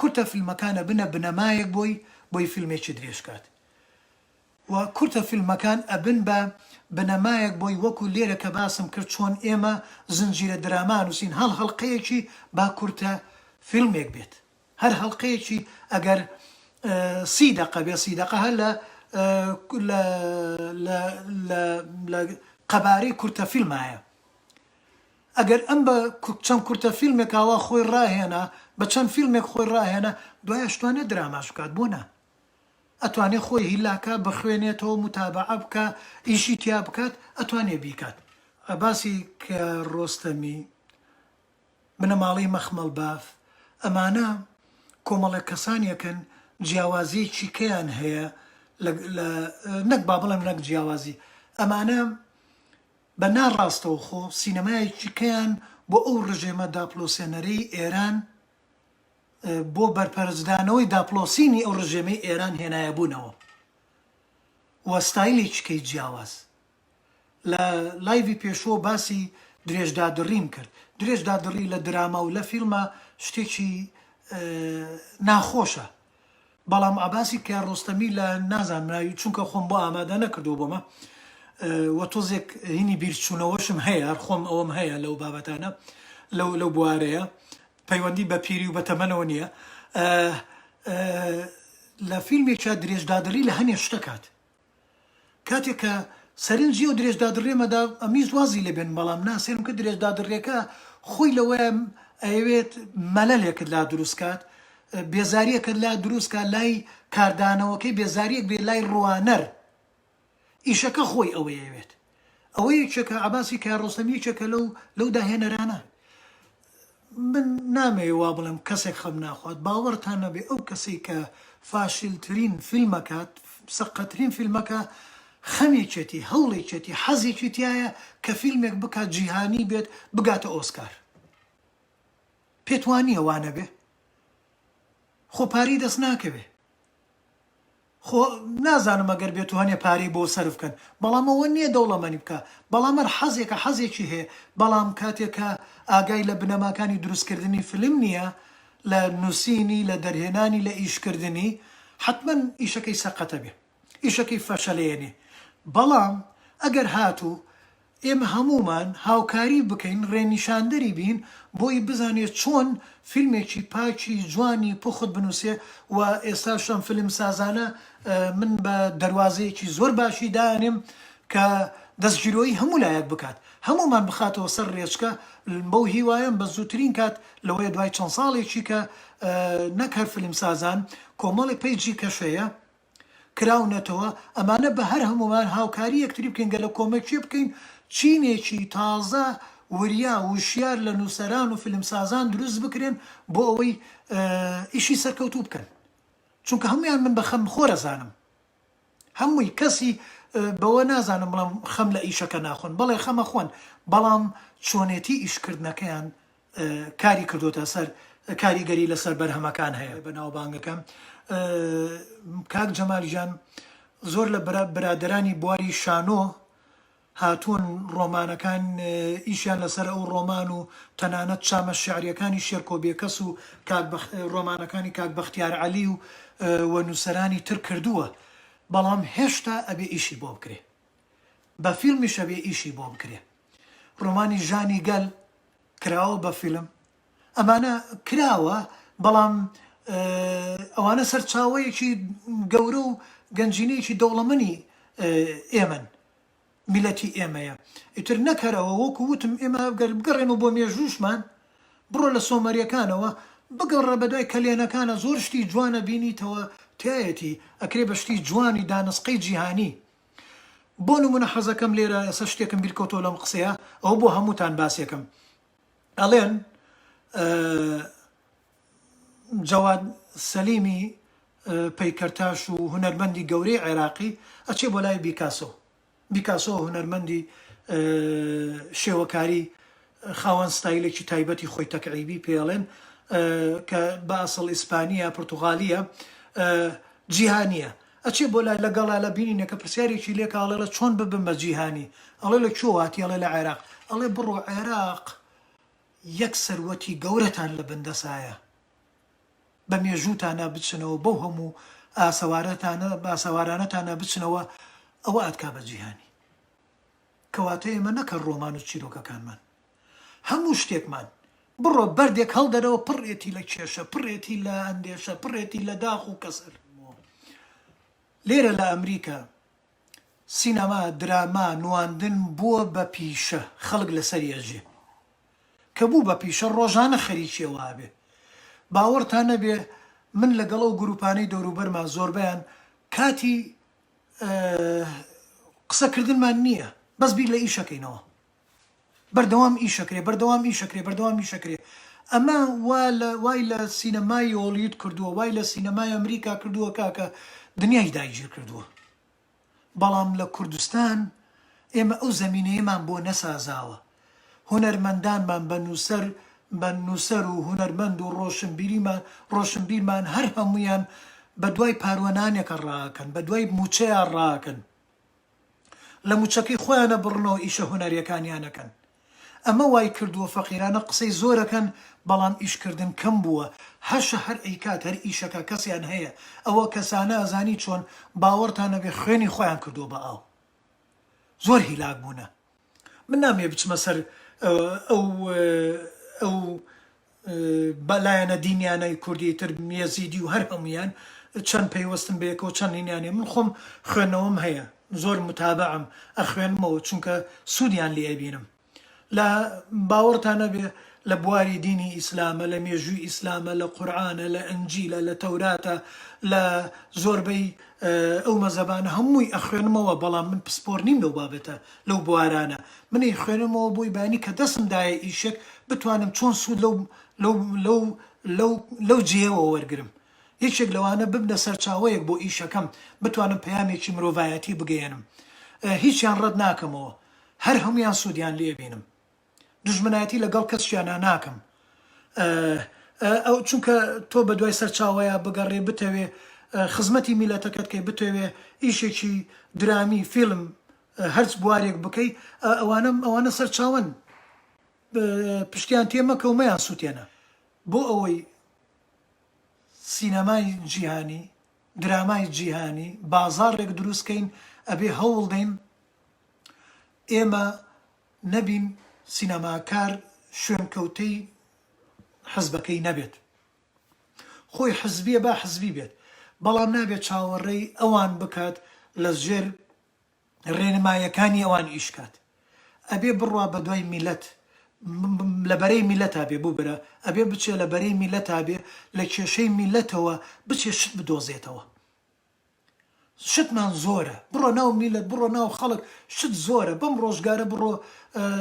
کورتە فیلمەکان ئەبنە بنەمایەک بۆی بۆی فیلمێکی درێژ کات و کورتە فیلمەکان ئەبن بە بنەمایەک بۆی وەکو لێرە کە باسم کرد چۆن ئێمە زنجیرە دراما ئەنوسین هەڵ هەڵقەیەکی با کورتە فیلمێک بێت هەر هەڵقەیەکی ئەگەر سی دەقە بێ سی دەقە هەر لە لە لە لە لە قەبارەی کورتە فیلمایە. ئەگەر ئەم بە چەند کورتە فیلمێک ئاوا خۆی ڕاهێنا بە چەند فیلمێک خۆی ڕاهێنا دوای ئەشتوانێ دراماش بکات بۆ نا ئەتوانێ خۆی هیلاکا بخوێنێتەوە موتابەعە بکا ئیشی تیا بکات ئەتوانێ بیکات. عەباسی کیارۆستەمی، بنەماڵەی مەخمەڵ باف، ئەمانە کۆمەڵێک کەسانێکن جیاوازیەکی کیان هەیە لە نەک با بڵێم نەک جیاوازی ئەمانە بە نا ڕاستەوخۆ سینەمایەکی کەیان بۆ ئەو ڕژێمە داپڵۆسێنەرەی ئێران بۆ بەرپەرچدانەوەی داپڵۆسینی ئەو ڕژێمەی ئێران هێنایە بوونەوە و ستایلێکی کەی جیاواز لە لایڤی پێشوە باسی درێژ دادڕیم کرد درێژ دادڕی لە دراما و لە فیلمە شتێکی ناخۆشە بەڵام عەباسی کە ڕۆستەمی لە نازانرا چونکە خۆم بۆ ئامادە نەکردووە بۆمە و تۆزێک هینی بیرچوونەوەشم هەیە هەر خۆم ئەوەم هەیە لەو بابەتانە لەو لەو بوارەیە پەیوەندی بە پیری و بە تەمەنەوە نییە لە فیلمێکیا درێژدادڕی لە هەنێ شتەکات کاتێک کە سەرنجی ئەو درێژدادڕیەمە دا ئەمویست وازی لێ بێنم بەڵام نا سەیرم کرد درێژدادڕیەکە خۆی لەوەیە ئەیەوێت مەلەلێکت لا دروست کات بێزاریەکت لا دروست کات لای کاردانەوەکەی بێزاریەک بێ لای ڕوانەر ئیشەکە خۆی ئەوەیەوێت. ئەوە یەکێکە عەباسی کیارۆستەم یەکێکە لەو لەو داهێنەرانە من نامەوێ وا بڵێم کەسێک خەم ناخوات باوەڕتان نەبێ ئەو کەسەی کە فاشلترین فیلمەکات سەقەترین فیلمەکە خەمێکێتی هەوڵێکێتی حەزێکی تایە کە فیلمێک بکات جیهانی بێت بگاتە ئۆسکار پێتوانییە وانەبێ خۆ پارەی دەست ناکەوێ خۆ نازانم ئەگەر بێتو هەنێ پارەی بۆ سەرف کەن بەڵام ئەوە نیە دەوڵەمەنی بکا بەڵام هەر حەزێکە حەزێکی هەیە بەڵام کاتێ کە ئاگای لە بنەماکانی دروست کردنی فلم نیە لە نوسینی لە دەرهێنانی لە ئیش کردنی حەتمەن ئیشەکەی سەقەتە بێ ئیشەکەی فەشەلێنێ بەڵام ئەگەر هاتو ئێمە هەموومان هاوکاری بکەین ڕێنیشاندەری بین بۆی بزانێ چۆن فیلمێکی پاکی جوانی پوخت بنووسێ و ئێستاش ئەم فیلمسازانە من بە دەروازەیەکی زۆر باشی دائەنێم کە دەستگیرۆیی هەموو لایەک بکات هەموومان بخاتەوە سەر ڕێچکە بەو هیوایەم بە زووترین کات لەوەیە دوای چەند ساڵێکی کە نەک هەر فیلمسازان کۆمەڵێک پەیجی کەشەیە کراونەتەوە ئەمانە بە هەر هەموومان هاوکاری یەکتری بکەین گەلە کۆمەکیێ بکەین چینێکی تازە وریا وشیار لە نووسەران و فیلمسازان دروست بکرێن بۆ ئەوەی ئیشی سەرکەوتوو بکەن چونکە هەمویان من بە خەم خۆرە زانم هەمووی کەسی بەوە نازانم بڵم خەم لە ئیشەکە ناخۆن بەڵێ خەمە خۆن بەڵام چۆنێتی ئیشکردنەکەیان کاری کردۆتە سەر کاریگەری لەسەر بەرهەمەکان هەیە بەناوبانگەکە کاک جەمال گیان زۆر لە برادرانی بواری شانۆ هاتوون ڕۆمانەکان ئیشیان لەسەر ئەو ڕۆمان و تەنانەت چامە شعریەکانی شێرکۆ بێکەس و ڕۆمانەکانی کاک بەختیار عەلی و وە نووسەرانی تر کردووە بەڵام هێشتا ئەبێ ئیشی بۆ بکرێ بە فیلمیش ئەبێ ئیشی بۆ بکرێ ڕۆمانی ژانی گەل کراوە بە فیلم ئەمانە کراوە بەڵام ئەوانە سەرچاوەیەکی گەورە و گەنجینەیەکی دەوڵەمەنی ئێمەن میلەتی ئێمەیە ئیتر نەکەرەوە وەکو وتم ئێمە گەر بگەڕێنەوە بۆ مێژووشمان بڕۆ لە سۆمەریەکانەوە بگەڕە بەدوای کەلێنەکانە زۆر شتی جوانە بینیتەوە تایەتی ئەکرێ بە شتی جوانی دانسقەی جیهانی بۆ نمونە حەزەکەم لێرە ئێستا شتێکم بیرکەوتەوە لەم قسەیە ئەوە بۆ هەمووتان باسێکەم ئەڵێن جەواد سەلیمی پەیکەرتاش و هونەرمەندی گەورەی عێراقی ئەچێ بۆ لای بیکاسۆ بیکاسۆ هونەرمەندی شێوەکاری خاوەن ستایلێکی تایبەتی خۆی تەکعیبی پێ ئەڵێن کە بە ئەسڵ ئیسپانییە، پورتوغالییە، جیهانییە. ئەچێ بۆ لای لە گەڵا لە بینینێ کە پرسیارێکی لێ کە ئەڵێ ڵە چۆن ببم بە جیهانی؟ ئەڵێ لە کوێ هاتی؟ ئەڵێ لە عێراق. ئەڵێ بڕۆ عێراق یەک سەروەتی گەورەتان لە بن دەسایە بە مێژووتانا بچنەوە بەو هەموو ئاسەوارەتانە ئاسەوارانەتانا بچنەوە ئەوە ئەتکا بە جیهانی. کەواتە ئێمە نەک هەر ڕۆمان و چیرۆکەکانمان، هەموو شتێکمان، بڕۆ بەردێک هەڵدەرەوە پڕێتی لە کێشە، پڕێتی لە ئەندێشە، پڕێتی لە داخ و کەسەر. لێرە لە ئەمریکا سینەما، دراما، نواندن بووە بە پیشە، خەڵک لەسەری ئەژێ. کە بوو بە پیشە، ڕۆژانە خەریکی ئەوە ئەبێ. باوەڕتان نەبێ من لەگەڵ ئەو گرووپانەی دەوروبەرما زۆربەیان کاتی قسە کردنمان نییە بەس بیر لە ئیشەکەینەوە بەردەوام ئیشەکرێ بەردەوام ئیشەکرێ بەردەوام ئیشەکرێ ئەمە وا لە وای لە سینەمای هۆلیود کردووە وای لە سینەمای ئەمریکا کردووە کاکە دنیای دایگیر کردووە بەڵام لە کوردستان ئێمە ئەو زەمینەیەمان بۆ نەسازاوە هونەرمەندانمان بە نووسەر بە نووسەر و هونەرمەند و ڕۆشنبیریمان ڕۆشنبیرمان هەر هەموویان بە دوای پاروەنانێکە ڕاکەن بە دوای مووچەیە ڕاکەن لە مووچەکەی خۆیانە بڕنەوە ئیشە هونەریەکانیانەکەن ئەمە وای کردووە فەقیرانە قسەی زۆرەکەن بەڵام ئیشکردن کەم بووە هەشە هەر ئەیکات هەر ئیشەکە کەسیان هەیە ئەوە کەسانە ئەزانی چۆن باوەڕتان نەبێ خوێنی خۆیان کردووە بە ئاو زۆر هیلاک بوونە. من نامەوێ بچمە سەر ئەو ئەو بە لایەنە دینیانەی کوردی تر یەزیدی و هەر هەمویان چەند پەیوەستن بەیەکەوە چەند هینیانێ من خۆم خوێندنەوەم هەیە زۆر متابعم ئەخوێنمەوە چونکە سوودیان لێ ئەبینم لە باوەڕتان نەبێ لە بواری دینی ئیسلامە لە مێژووی ئیسلامە لە قورئانە لە ئەنجیلە لە تەوراتە لە زۆربەی ئەو مەزەبانە هەمووی ئەخوێنمەوە بەڵام من پسپۆر نیم لەو بابەتە لەو بوارانە من ئەیخوێنمەوە بۆی بانی کە دەسم دایە ئیشێک بتوانم چۆن سوود لەو لەو لەو لەو لەو جێیەوە وەرگرم یەکێک لەوانە ببنە سەرچاوەیەک بۆ ئیشەکەم بتوانم پەیامێکی مرۆڤایەتی بگەیەنم هیچیان ڕەت ناکەمەوە هەر هەموویان سوودیان لێ بینم. دوژمنایەتی لە گەڵ کەسشیانا ناکەم ئە ئە چونکە تۆ بە دوای سەرچاوەیا بگەڕێ بتەوێ خزمەتی میلەتەکەت کەی بتەوێ ئیشێکی درامی فیلم هەرچ بوارێک بکەی ئە ئەوانە ئەوانە سەرچاوەن پشتیان تێ مەکە و مەیان سووتێنە بۆ ئەوەی سینەمای جیهانی درامای جیهانی بازاڕێک دروستکەین ئەبێ هەوڵدەین ئێمە نەبین سینەماکار شوێنکەوتەی حزبەکەی نەبێت خۆی حزبیە با حزبی بێت بەڵام نابێت چاوەڕێی ئەوان بکات لە ژێر ڕێنمایەکانی ئەوان ئیشکات ئەبێ بڕوا بە دوای میلەت لە بەرەی میلەتا بێ بوو برا ئەبێ بچێ لە بەرەی میلەتا بێ لە کێشەی میلەتەوە بچێ شت بدۆزێتەوە. شتمان زۆرە بڕۆ ناو میلەت بڕۆ ناو خەڵک شت زۆرە بەم ڕۆژگارە بڕۆ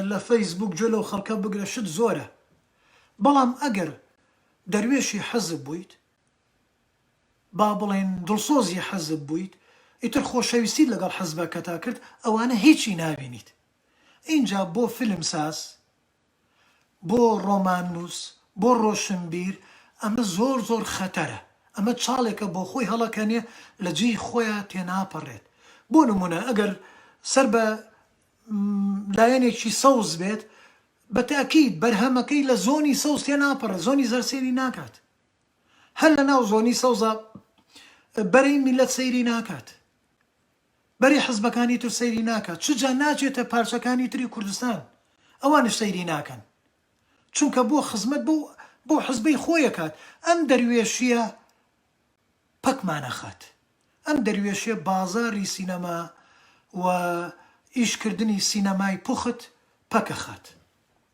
لە فەیس بوک گوێ لەو خەڵکە بگرە شت زۆرە بەڵام ئەگەر دەروێشی حزب بویت با بڵێن دڵسۆزی حزب بویت ئیتر خۆشەویستیت لەگەڵ حزبەکەتا کرد ئەوانە هیچی نابینیت ئینجا بۆ فیلم ساز بۆ ڕۆماننووس، بۆ ڕۆشنبیر ئەمە زۆر زۆر خەتەرە، ئەمە چاڵێکە بۆ خۆی هەڵەکەنێ لە جێی خۆیا تێناپەڕێت، بۆ نموونە ئەگەر سەر بە لایەنێکی سەوز بێت بە تەئکید بەرهەمەکەی لە زۆنی سەوز تێناپەڕێت زۆنی زەرد سەیری ناکات، هەر لە ناو زۆنی سەوزا بەرەی میللەت سەیری ناکات. بەری حزبەکانی تر سەیری ناکات چ جا ناچێتە پارچەکانی تری کوردستان ئەوانش سەیری ناکەن چونکە بۆ خزمەت بەو بەو حزبەی خۆی ئەکات ئەم دەروێشیە پەکمان ئەخات ئەم دەروێشیە بازاری سینەما و ئیش کردنی سینەمای پوخت پەک ئەخات.